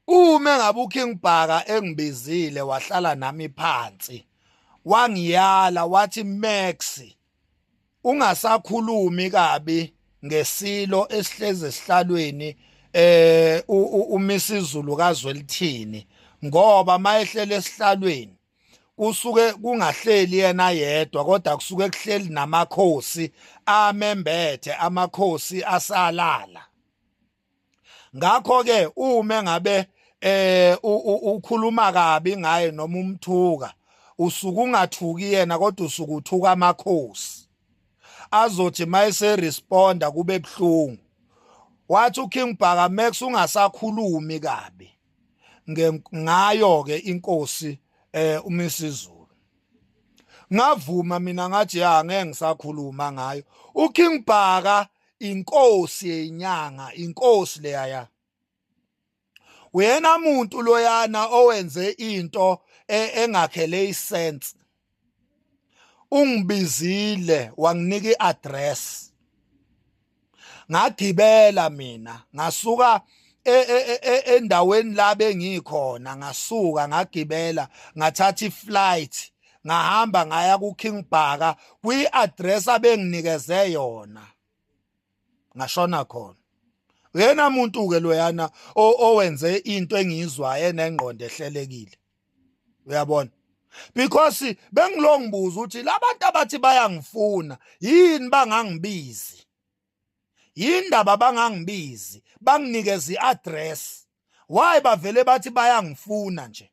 Uma ngabe uKing Bhaka engibizile wahlala nami phansi wangiyala wathi Max ungasakhulumi kabi ngesilo esihlezi esihlalweni eh umisizulu kazwelithini ngoba mayehlele esihlalweni kusuke kungahleli yena yedwa kodwa kusuke kuhleli namakhosi amembethe amakhosi asalala ngakho ke uma ngabe eh ukhuluma kabi ngaye noma umthuka usuku ungathuki yena kodwa usuku uthuka amakhosi azothi mayese responda kube buhlungu wathi uKing Bhaka Max ungasakhulumi kabi ngayo ke inkosi eh uMisizulu ngavuma mina ngathi ya ngeke ngisakhuluma ngayo uKing Bhaka inkosi yenyanga inkosi leyaya uyena muntu loyana owenze into e, engakhele isense ungibizile wanginika iaddress ngagibela mina ngasuka e, e, endaweni la bengikhona ngasuka ngagibela ngathatha iflight ngahamba ngaya ku King Bhaka kwi address abenginikeze yona ngashona khona uyena muntu ke loyana owenze into engiyizwayo enengqondo ehlelekile uyabona because bengilongibuza ukuthi labantu abathi bayangifuna yini bangangibizi yindaba bangangibizi banginikeza iaddress why bavele bathi bayangifuna nje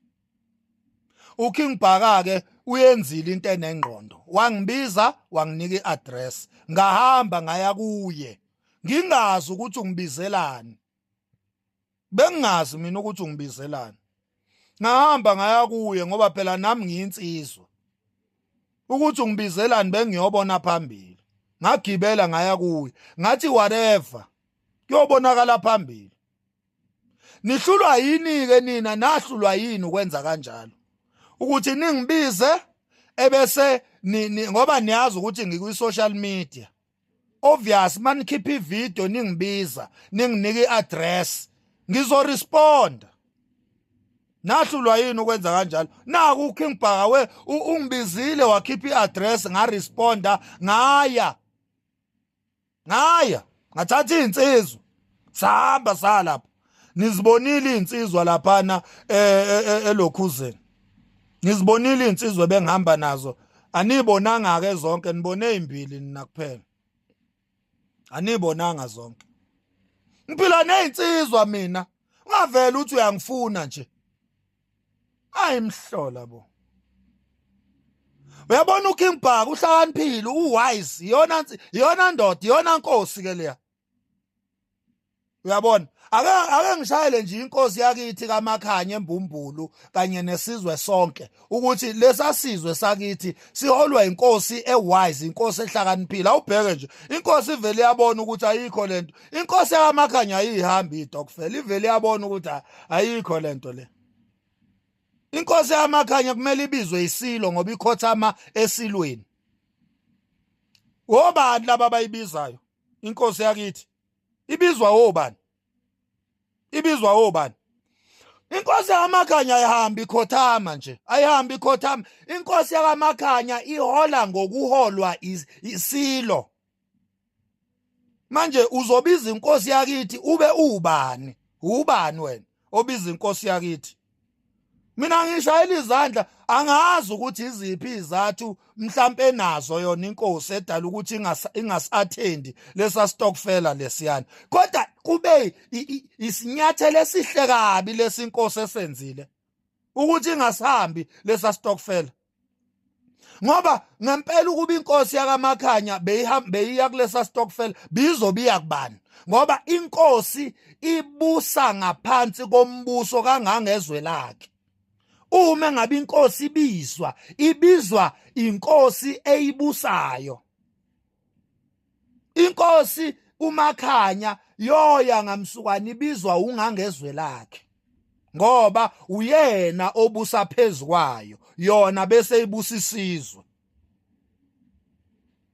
uKing Bhaka ke uyenzile into enengqondo wangibiza wanginika iaddress ngahamba ngaya kuye ngingazi ukuthi ungibizelani bengingazi mina ukuthi ungibizelani ngahamba ngaya kuye ngoba phela nami ngiyinsizwa ukuthi ungibizelani bengiyobona phambili ngagibela ngaya kuye ngathi whatever kuyobonakala phambili nihlulwa yini ke nina nahlulwa yini ukwenza kanjalo ukuthi ningibize ebese ngoba niyazi ukuthi ngikwi social media obvious manikhipha ivideo ningibiza ninginike iaddress ngizoresponda nahlulwa yini ukwenza kanjalo naku uking bhaka we ungibizile wakhipha iaddress ngaresponda ngaya ngaya ngathatha izinsizwa sahamba salapha nizibonile izinsizwa laphana e, e, e, elokhuzeni nizibonile izinsizwa bengihamba nazo anibonanga ke zonke nibone imbili nina kuphela anibonanga zonke ngiphila nezinsizwa mina ungavela uthi uyangifuna nje ayimhlola bo uyabona uKing Bhaka uhlakaniphile uwise iyona iyona ndoda iyona nkosi ke leya uyabona ake ake ngishayele nje inkosi yakithi kamakhanye embumbulu kanye nesizwe sonke ukuthi lesasizwe sakithi siholwa inkosi ewise inkosi ehlakaniphile awubheke nje inkosi ivele yabona ukuthi ayikho lento inkosi yamakhanya ayihambi idokfela ivele yabona ukuthi ayikho lento le inkosi yamakhanya kumele ibizwe isilo ngoba ikhothama esilweni wobani laba abayibizayo inkosi yakithi ibizwa wobani ibizwa wobani inkosi yakamakhanya ayihambi ikhothama nje ayihambi ikhothama inkosi yakamakhanya ihola ngokuholwa isilo manje uzobiza inkosi yakithi ube ubani ubani wena obiza inkosi yakithi mina ngishayela izandla angazi ukuthi iziphi izathu mhlampe nazo yona inkosi edala ukuthi ingasathendi lesa stockfela lesiyana kodwa kube isinyathelo esihle kabi lesinkosi esenzile ukuthi ingasahambi lesa stockfela ngoba ngempela ukuba inkosi yakamakhanya beyiya kulesa stokfel bizobe iya kubani ngoba inkosi ibusa ngaphansi kombuso kangangezwe lakhe uma ngabe inkosi ibizwa ibizwa inkosi eyibusayo inkosi umakhanya yoya ngamsukwana ibizwa ungangezwe lakhe ngoba uyena obusa phezukwayo yona bese ibusa isizwe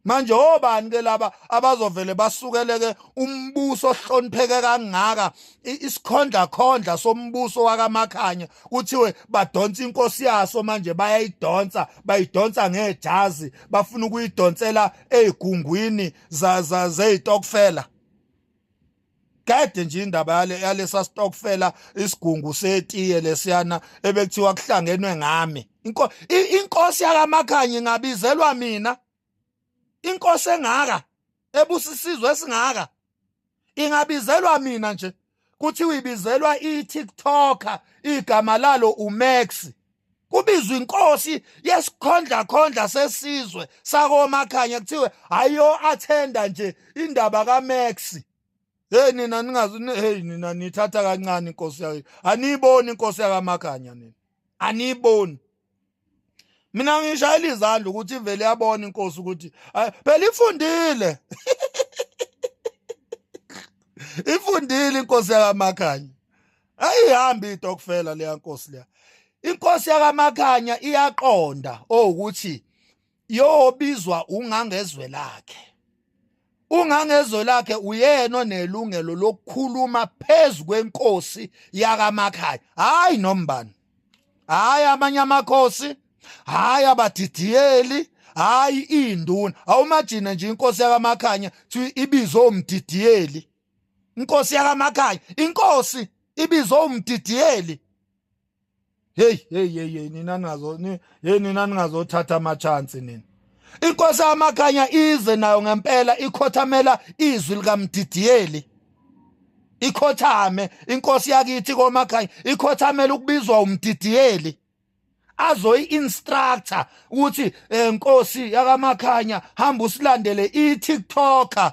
manje obani ke laba abazovele basukeleke umbuso ohlonipheke kangaka isikhondla khondla sombuso wakamakhanya kuthiwe badonsa inkosi yaso manje bayayidonsa bayidonsa ngejazi bafuna ukuyidonsela ezigungwini za za zezitokfela kade nje indaba yale yalesa stokfela isigungu setiye lesiyana ebekuthiwa kuhlangenwe ngami inko inkosi yakamakhanye ngabizelwa mina inkosi engaka ebusisizwe esingaka ingabizelwa mina nje kuthiwa ibizelwa i-tiktoker igama lalo umax kubizwa inkosi yesikhondla khondla sesizwe sakomakhanya kuthiwe ayo athenda nje indaba kaMax hey nina ningazi hey nina nithatha kancane inkosi yayo aniyiboni inkosi yakamakhanya nina aniyiboni mina ngishayela izandla ukuthi ivele yabona inkosi ukuthi phela ifundile ifundile inkosi yakamakhanya ayihambi itokfela leya nkosi leya inkosi yakamakhanya iyaqonda owukuthi oh, yobizwa ungangezwe lakhe ungangezwe lakhe uyena onelungelo lokukhuluma phezu kwenkosi yakamakhaya hayi nombani hayi amanye amakhosi hayi abadidiyeli hayi induna awumajine nje inkosi yakamakhanya thi ibizo umdidiyeli inkosi yakamakhanya inkosi ibizo umdidiyeli Hey hey hey hey nina ningazo ni hey nina ningazothatha ama chance nina. Inkosi amakhanya ize nayo ngempela ikhothamela izwi likamdidiyeli. Ikhothame inkosi yakithi komakhanya ikhothamela ukubizwa umdidiyeli. azoyi instructor ukuthi eh, nkosi yakamakhanya hamba usilandele i TikToker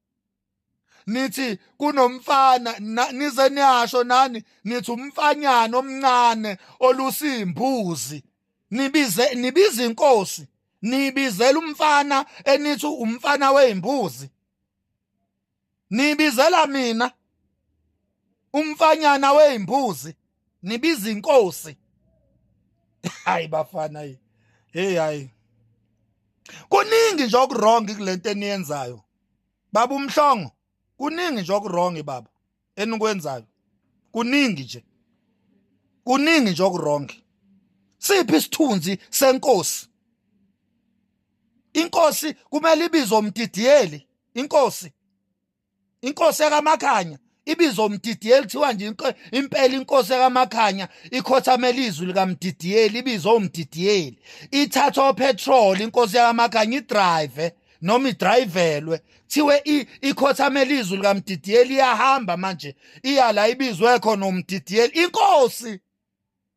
nithi kunomfana nize niyasho nani nithi umfanyana omncane olusimbuzi nibize nibiza inkosi nibizela umfana enithi umfana weimbuzi nibizela mina umfanyana weimbuzi nibiza inkosi hayi bafana yi hey hayi kuningi nje okuwrong kulento eniyenzayo baba umhlongo kuningi nje okuwrong baba enikwenzayo kuningi nje kuningi nje okuwrong siphi isithunzi senkosi inkosi kumele ibizwe umdidiyeli inkosi inkosi yakamakhanya ibizo mdidiyeli kuthiwa nje impela inkosi yakamakhanya ikhothamela izwi likamdidiyeli ibizo umdidiyeli ithathwa upetrol inkosi yakamakhanya idrive noma idrayivelwe thiwe ikhothamela izwi likamdidiyeli iyahamba manje iya la ibizwe khona umdidiyeli inkosi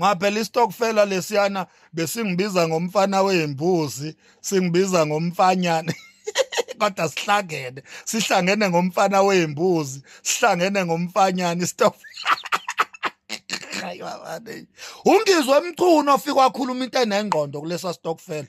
ngaphela istokfela lesiyana besingibiza ngomfana weyimbuzi singibiza ngomfanyana kodwa sihlangene sihlangene ngomfana weyimbuzi sihlangene ngomfanyana istokfela ungizwe mchunu ofika wakhuluma into enengqondo kulesa stokfela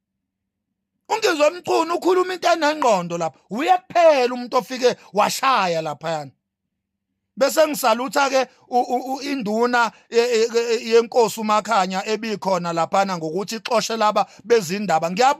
ungizwe mchunu ukhuluma into enengqondo lapha uye kuphela umuntu ofike washaya laphayana bese ngisalutha ke induna e, e, e, yenkosi umakhanya ebikhona laphana ngokuthi ixoshe laba bezindaba ngiyabu